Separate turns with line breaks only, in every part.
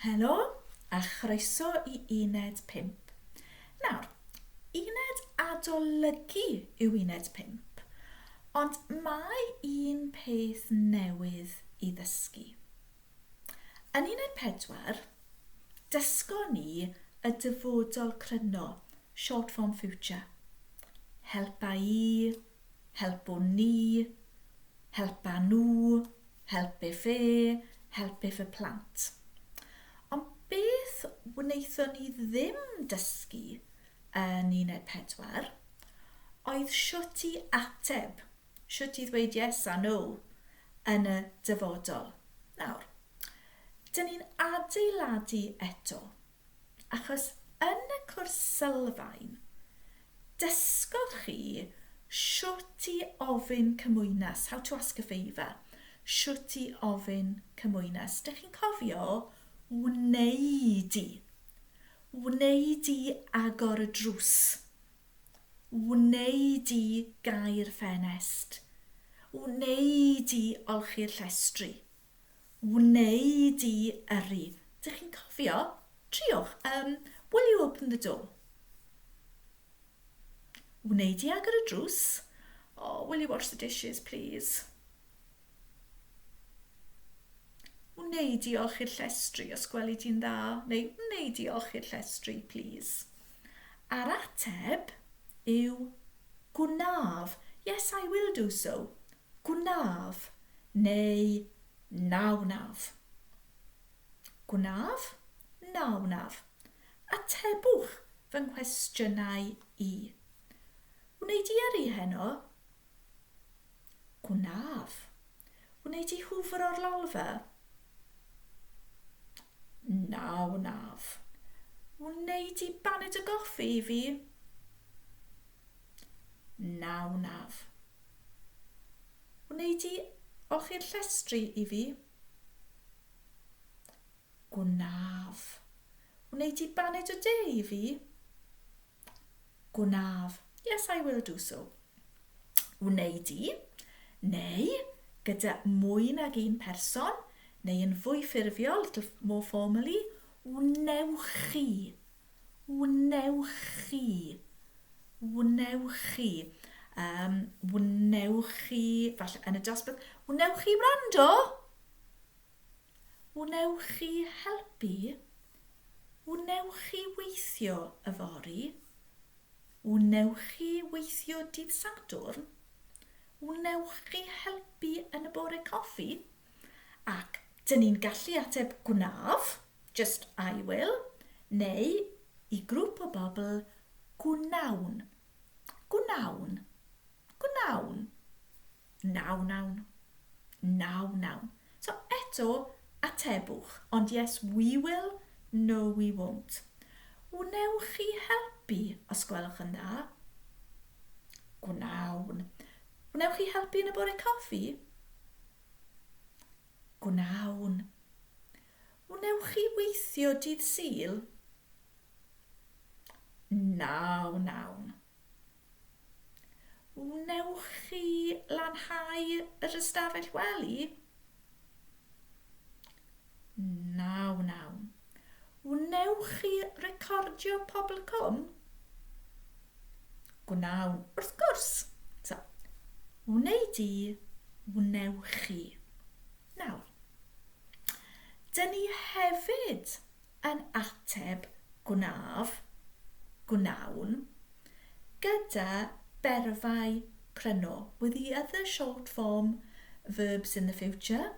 Helo a chroeso i Uned 5. Nawr, uned adolygu yw uned 5, ond mae un peth newydd i ddysgu. Yn 14, dysgon ni y dyfodol cryno, short form future, helpa i, helpo ni, helpa nhw, help if e, help if y plant. Ond beth wnaethon ni ddim dysgu yn uned pedwar oedd shwt i ateb Shwt i ddweud yes a no yn y dyfodol. Nawr, dyn ni'n adeiladu eto, achos yn y cwrs sylfaen, dysgodd chi shwt i ofyn cymwynas, how to ask a favour, shwt i ofyn cymwynas. Dych chi'n cofio wneud i, wneud i agor y drws, Wnei di gau'r ffenest. Wnei di olchi'r llestri. Wnei di yrru. Dych chi'n cofio? Triwch, um, will you open the door? Wnei di agor y drws? Oh, will you wash the dishes, please? Wnei di olchi'r llestri os gweli di'n dda neu wnei di olchi'r llestri plîs? A'r ateb yw gwnaf, yes I will do so, gwnaf neu na wnaf. Gwnaf, na wnaf. Atebwch fy nghwestiynau i. Wnei di yrru heno? Gwnaf. Wnei di hwfro'r lalfa? Na wnaf. Wnei di baned y goffi i fi? Na wnaf. Wnei di olchi'r llestri i fi? Gwnaf. Wnei di baned y de i fi? Gwnaf. Yes, I will do so. Wneud i, neu, gyda mwy nag un person, neu yn fwy ffurfiol, little more formally, wnewch chi. Wnewch chi. Wnewch chi. Um, wnewch chi, falle yn y dosbarth, wnewch chi wrando? Wnewch chi helpu? Wnewch chi weithio yfory? Wnewch chi weithio dydd Sadwrn? Wnewch chi helpu yn y bore coffi? Ac dyn ni'n gallu ateb Gwnaf, just I will, neu, i grŵp o bobl, Gwnawn. Gwnawn. Gwnawn. Na wnawn. Na wnawn. So, eto, atebwch. Ond yes, we will, no we won't. Wnewch chi helpu, os gwelwch yn dda? Gwnawn. Wnewch chi helpu yn y bore coffi? Gwnawn. Wnewch chi weithio dydd Sul? Na wnawn. Wnewch chi lanhau yr ystafell wely? Na wnawn. Wnewch chi recordio Pobl Cwm? Gwnawn, wrth gwrs. So, wnei di, wnewch chi. Nawr, dyn ni hefyd yn ateb gwnaf, gwnawn, gyda berfau pryno, with the other short form verbs in the future,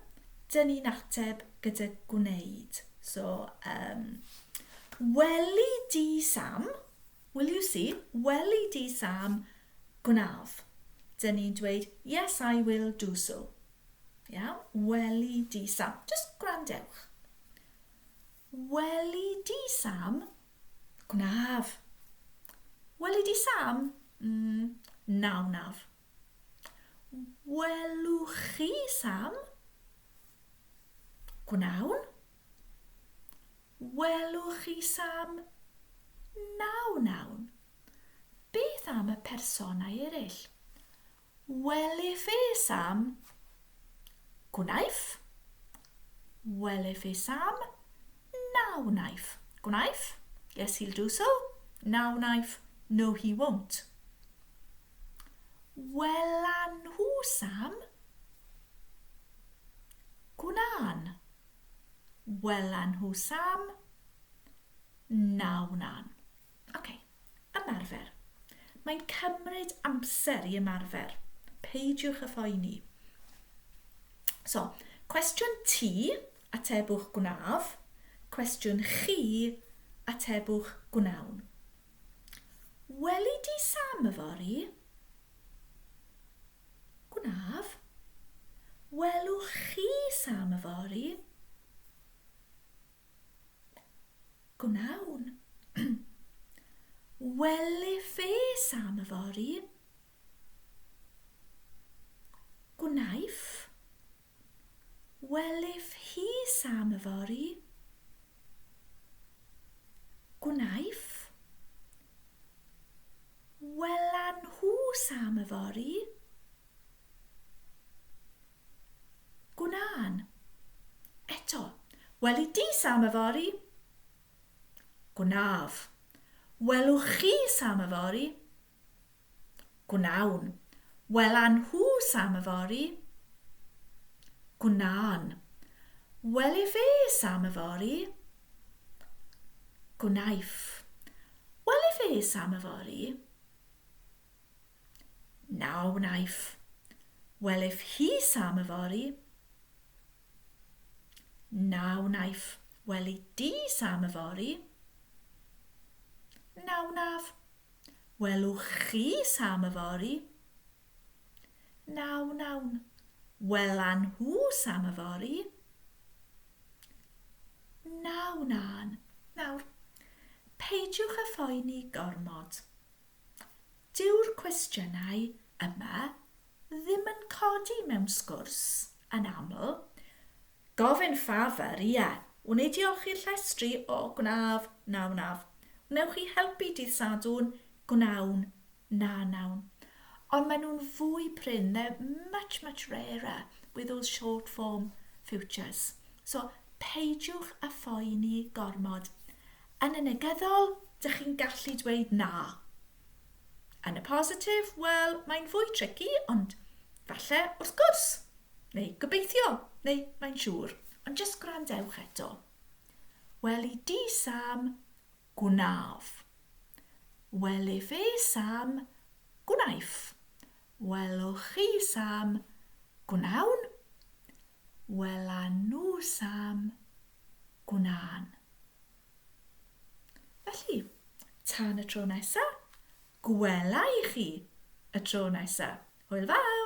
dyn ni'n ateb gyda gwneud. So, um, weli di Sam, will you see, weli di Sam, gwnaf. Dyn ni'n dweud, yes I will do so. Yeah? Weli di Sam. Just gwrandewch. Weli di Sam? Gwnaf. Weli di Sam? Mm, na wnaf. Welwch chi Sam? Gwnawn. Welwch chi Sam? Na wnawn. Beth am y personau eraill? Welefe Sam? Gwnaiff. Welefe Sam? Na wnaiff. Gwnaiff? Yes, he'll do so. Na wnaiff. No, he won't. Welan nhw Sam? Gwnan. Welan nhw Sam? Na wnan. Okay. Ymarfer. Mae'n cymryd amser i ymarfer. Peidiwch â phoeni. So, cwestiwn ti, atebwch gwnaf. Cwestiwn chi, atebwch gwnawn. Weli di Sam yfory? Gwnaf. Welwch chi Sam yfory? Gwnawn. Weli fes am yfory. Gwnaiff. Weliff hi sam yfory. Gwnaiff. Welan nhw sam yfory. Gwna'n. Eto. Weli di Sam yfory? Gwnaf. Welwch chi Sam yfory? Gwnawn. Wela nhw Sam yfory? Gwna'n. Wele fe Sam yfory? Gwnaiff. Wele fe Sam yfory? Na wnaiff. Wel if hi Sam yfory. Na wnaiff. Wel i di Sam yfory. Na wnaf. Wel wch chi Sam yfory. Na wnawn. Wel a nhw Sam yfory. Na wnân. Nawr, peidiwch â phoeni gormod. Dyw'r cwestiynau yma ddim yn codi mewn sgwrs, yn aml. Gofyn ffafr, ie. Wn i diolchi'r llestri? O, gwnaf. Na, wnaf. Wnewch chi helpu dydd Sadwrn? Gwnawn. Na, nawn. Ond maen nhw'n fwy prin, they're much, much rarer with those short form futures. So, peidiwch â phoeni gormod. Yn y negyddol, dych chi'n gallu dweud na. Yn y positif, wel, mae'n fwy tricky, ond falle, wrth gwrs, neu gobeithio, neu mae'n siŵr, ond jyst gwrandewch eto. Wel i di, Sam, gwnaf. Wel i fe, Sam, gwnaiff. Wel o chi, Sam, gwnawn. Wel a nhw, Sam, gwna'n. Felly, tan y tro nesa, gwela i chi y tro nesa. Hwyl fawr!